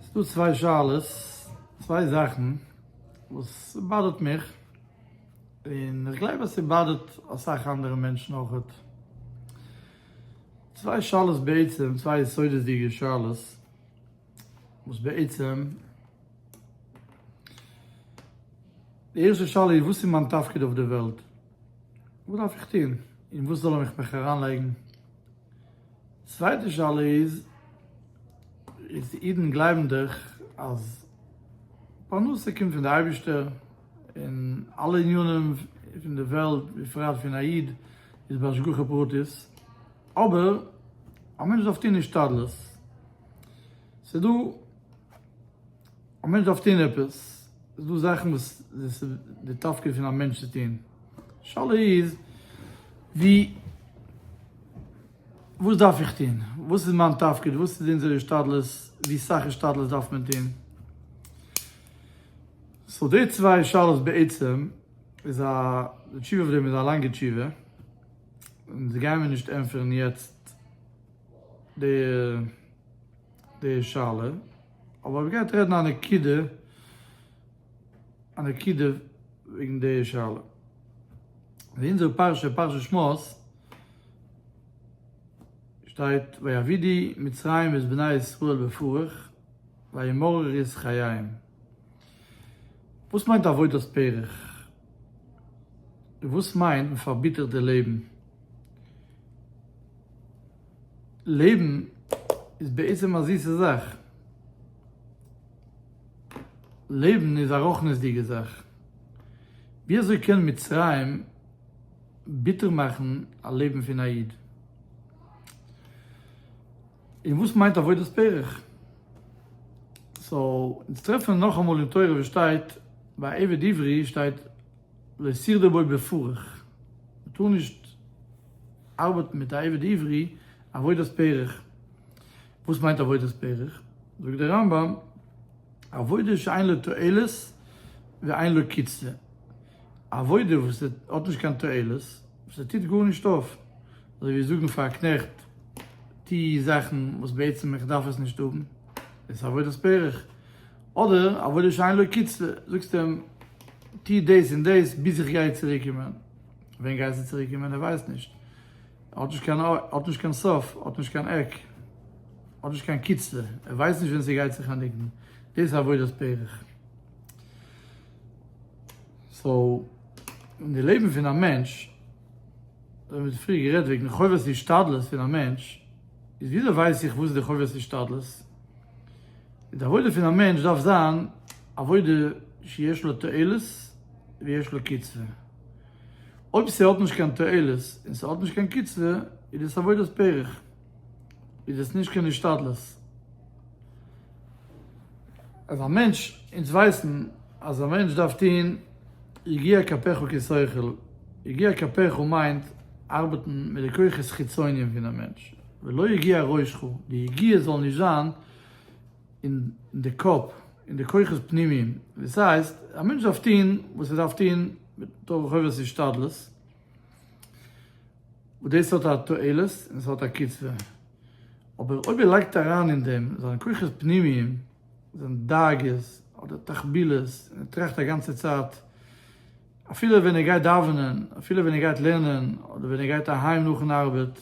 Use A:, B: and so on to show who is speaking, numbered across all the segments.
A: ס'איז דא צוויי שאלות, צוויי זאכן וואס באדערט מיך, און איך גלייב אז ס'באדערט אסאך אנדערע מענטשן אויכעט. צוויי שאלות בעצם, צוויי יסודות'דיגע שאלות, וואס בעצם, די ערשטע שאלה איז, וואס איז מיין תפקיד אויף די וועלט? וואס דארף איך טון? אין וואס זאל ער מיך אריינלייגן? צווייטע שאלה איז, איז די אידן גלייבן דאך אז פרנסה קומט פון די אייבישטער, און אלע עניינים פון די וועלט, בפרט פון א איד, איז בהשגחה פרטית, אבער א מענטש דארף טון השתדלות, ס'דא א מענטש דארף טון עפעס, איז דא זאכן וואס איז די תפקיד פון א מענטש צו טון, די שאלה איז ווי וואס דארף איך טון, וואס איז מיין תפקיד, וואס איז אונזער השתדלות, ווי סאך השתדלות דארף מען טון, סאו די צוויי שאלות בעצם איז א, די תשובה אויף דעם איז א לאנגע תשובה, און דאס גייען מיר נישט ענטפערן יעצט די די שאלה. אבער אויב גייט רעדן א נקודה א נקודה וועגן די שאלה אין אונזער פרשה פרשת שמות שטייט ויעבידי מצרים את בני ישראל בפרך וימרר את חייהם וואס מיינט עבודת פרך? און וואס מיינט מ'פארביטערט די לעבן? לעבן איז בעצם א זיסע זאך. לעבן איז א רחניות'דיגע זאך. ווי אזוי קען מצרים ביטער מאכן א לעבן פון א איד? און וואס מיינט עבודת פרך? סאו, אונז טרעפן נאכאמאל אין תורה וואס שטייט, ביי עבד עברי שטייט להסיר דער בוי בפרך, מען טאר נישט ארבעטן מיט א עבד עברי עבודת פרך, וואס מיינט עבודת פרך? זאגט דער רמב ם, עבודה שאין לה תועלת ואין לה קצבה, א עבודה וואס האט נישט קיין תועלת, וואס ער טוט גארנישט אויף, אזוי ווי זאגן פאר א קנעכט, טו זאכן וואס בעצם איך דארף עס נישט האבן, דאס איז עבודת פרך, אדער עבודה שאין לו קצבה, זאגסט אים טו דאס און דאס ביז איך גיי צוריק קומען, ווען גייסטו צוריק קומען ער ווייסט נישט, האט נישט קיין אור, האט נישט קיין סוף, האט נישט קיין עק, האט נישט קיין קצבה, ער ווייסט נישט ווען ס'גייט זיך ענדיגן, דאס איז עבודת פרך. סאו אין די לעבן פון א מענטש, אזוי ווי מיר האבן פריער גערעדט וועגן חובת השתדלות פון א מענטש, איז וויאזוי ווייס איך וואס איז די חובת השתדלות? די עבודה פון א מענטש דארף זיין עבודה שיש לה תועלת ויש לה קצבה. אויב ס'האט נישט קיין תועלת און ס'האט נישט קיין קצבה איז דאס עבודת פרך, איז דאס נישט קיין השתדלות. אז א מענטש, אונז ווייסן אז א מענטש דארף טון יגיע כפיך כשכל, יגיע כפיך מיינט ארבעטן מיט די כוחות חיצוניים פון די מענטש, ולא יגיע ראשך, די יגיע זאל נישט זיין אין די קאפ, אין די כוחות פנימיים, דאס הייסט א מענטש דארף טון וואס ער דארף טון מתוך חובת השתדלות, וואס דאס האט א תועלת און עס האט א קצבה, אבער אויב ער לייגט אריין אין דעם זיינע כוחות פנימיים, זיינע דאגות אדער תחבילות, און ער טראכט א גאנצע צייט, אפילו ווען ער גייט דאווענען, אפילו ווען ער גייט לערנען, אדער ווען ער גייט אהיים נאכן ארבעט,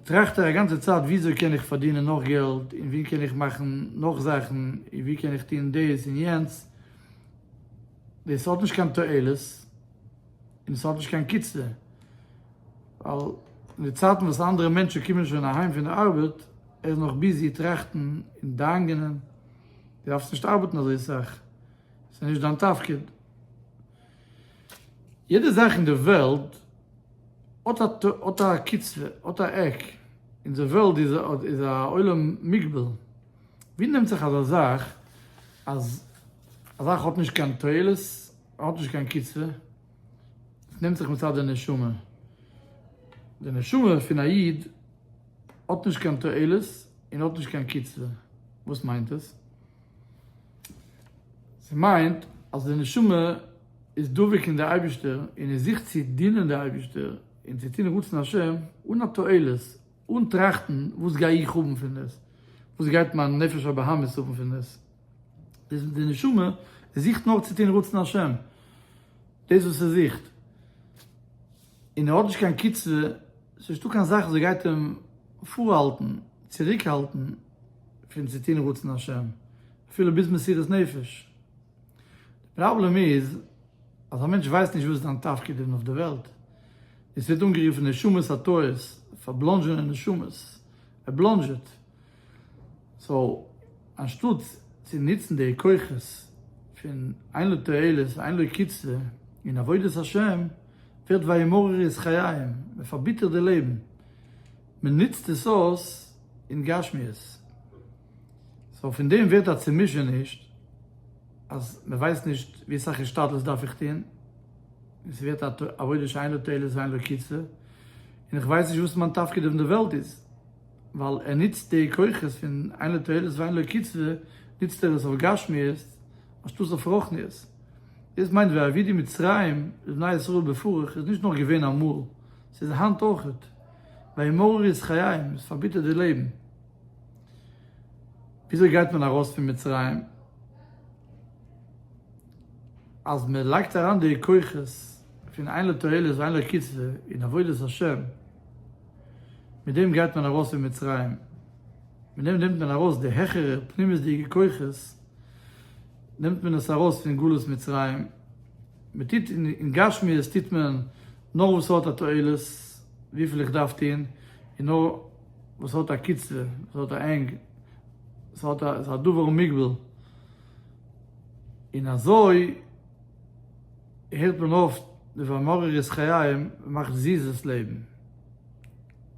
A: טראכט ער א גאנצע צייט וויאזוי קען איך פארדינען נאך געלט, און ווי קען איך מאכן נאך זאכן, און ווי קען איך טון דאס און יענץ, דאס האט נישט קיין תועלת און עס האט נישט קיין קצבה, ווייל אין די צייטן וואס אנדערע מענטשן קומען שוין אהיים פון די ארבעט, ער איז נאך ביזי טראכטן און דאנגענען, דו דארפסט נישט ארבעטן אזוי סאך, עס איז נישט דיין תפקיד. יעדע זאך אין די וועלט האט א קצבה, האט א עק, אונזער וועלט איז א עולם מוגבל, ווי נעמט זיך אזא זאך אז. א זאך האט נישט קיין תועלת, האט נישט קיין קצבה, עס נעמט זיך מצד די נשמה, די נשמה פון א איד האט נישט קיין תועלת און האט נישט קיין קצבה, וואס מיינט עס? ס'מיינט אז די נשמה איז דבוק אין די אייבישטער און ער זוכט צו דינען די אייבישטער און צו טון רצון השם אן א תועלת, אן טראכטן וואס גיי איך האבן פון דאס, וואס גייט מיין נפש הבהמית האבן פון דאס. דאס וואס די נשמה זוכט נאר צו טון רצון השם, דאס וואס ער זוכט, און ער האט נישט קיין קצבה, ס'נישטא קיין זאך וואס גייט אים פארהאלטן, צוריקהאלטן, פון צו טון רצון השם, אפילו ביז מסירת נפש. די פראבלעם איז אז א מענטש ווייסט נישט וואס איז זיין תפקיד אין אויף די וועלט. עס ווערט אנגערופן נשמת הטהור, פארבלאנדזשענע נשמות, ער בלאנדזשעט. סאו אנשטאט צו נוצן די כוחות פון אין לא תועלת ואין לו קצבה אין עבודת השם, ווערט וימרר את חייהם, מען פארביטערט די לעבן, מען נוצט עס אויס אין גשמיות. סאו פון דעם ווערט א צומישעניש אז מען ווייסט נישט ווי אסאך השתדלות דארף איך טון, און ס'ווערט א עבודה שאין לה תועלת ואין לה קצה, און איך ווייס נישט וואס מיין תפקיד אויף די וועלט איז, ווייל ער נוצט די כוחות פון אין לה תועלת ואין לה קצה נוצט ער עס אויף גשמיות אנשטאט אויף רוחניות. דאס מיינט ווי אבי די מצרים לבני ישראל בפרך איז נישט נאר געווען אמאל, ס'איז היינט אויכעט, וימררו את חייהם, עס פארביטערט די לעבן. וויאזוי גייט מען ארויס פון מצרים? אז מען לייגט אריין די כוחות פון אין לתועלת ואין לקצבה אין עבודת השם, מיט דעם גייט מען ארויס פון מצרים, מיט דעם נעמט מען ארויס די העכערע פנימית'דיגע כוחות, נעמט מען עס ארויס פון גלות מצרים, מען טוט אין גשמיות טוט מען נאר וואס ס'האט א תועלת, וויפיל איך דארף טון, און נאר. וואס האט א קיצער, וואס האט א ענג, וואס האט א, איז א דבר ומוגבל, און אזוי הערט מען אויף די ואמרר את חייהם, מאכט זיס דאס לעבן.